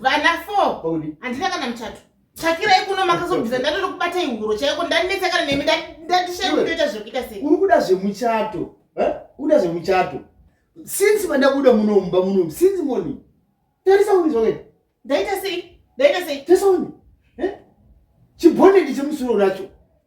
vana four handina kana muchato tsvakirai kuno makazobvisa ndatoda kubata ihuro chaiko ndanetsa kana nemi ndatishaitoita zvekuita sei uri kuda zvemuchato uda zvemuchato since vandakuda muno mumba muno since morning tarisa uri zvakuita ndaita sei ndaita sei tarisa uri chibhondedi chemusoro racho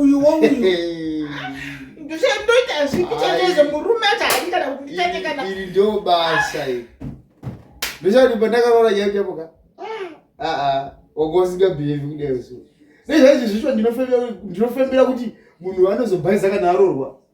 uyu wouyu ndoita zvipi chendezo murume acho haidi kana kunditete kana iri ndo basa iri ndochati pandakaroora nyaya chapoka aa ah, ah, wanga usingabhihevi kudai so nezvaizvi zvicho ndinofembera kuti munhu anozobhaiza kana aroorwa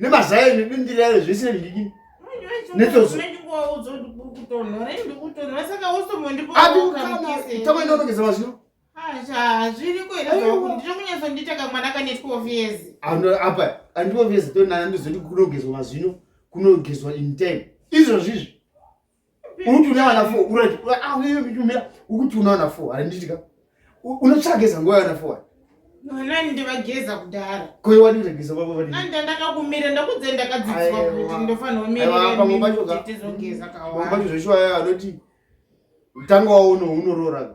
nemazai nedindirayo zvese ndidini netozo tamanonogeza mazino apa andioveza tonana ndozoti kunogezwa mazino kunogezwa in time izvozvizvi uruti une vana four urati ah, ukuti una vana four harinditika unotsvageza nguva yavana four nani ndivageza kudhara koyo wani ndageza baba vani nani ndandakakumira ndakudze ndakadzidzwa kuti ndofanira umirirtizogeza kawabacho zveshuwa anoti mtango wawo uno unoroora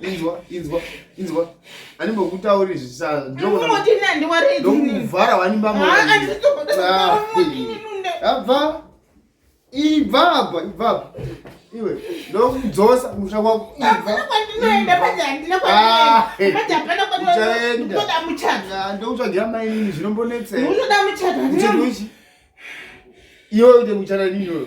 inzwa inzwa inzwa andimbokutauri zvisandiwaraidokuvhara wanimbamabva ibva apa ibva apa iwe ndokudzosa musha wako ibvandokutsvagira mainini zvinombonetseaunoda muchadaiwe uite muchana nini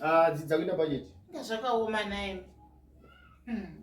Ah, dzidza kuita budget. Inga zvakaoma naye. Hmm.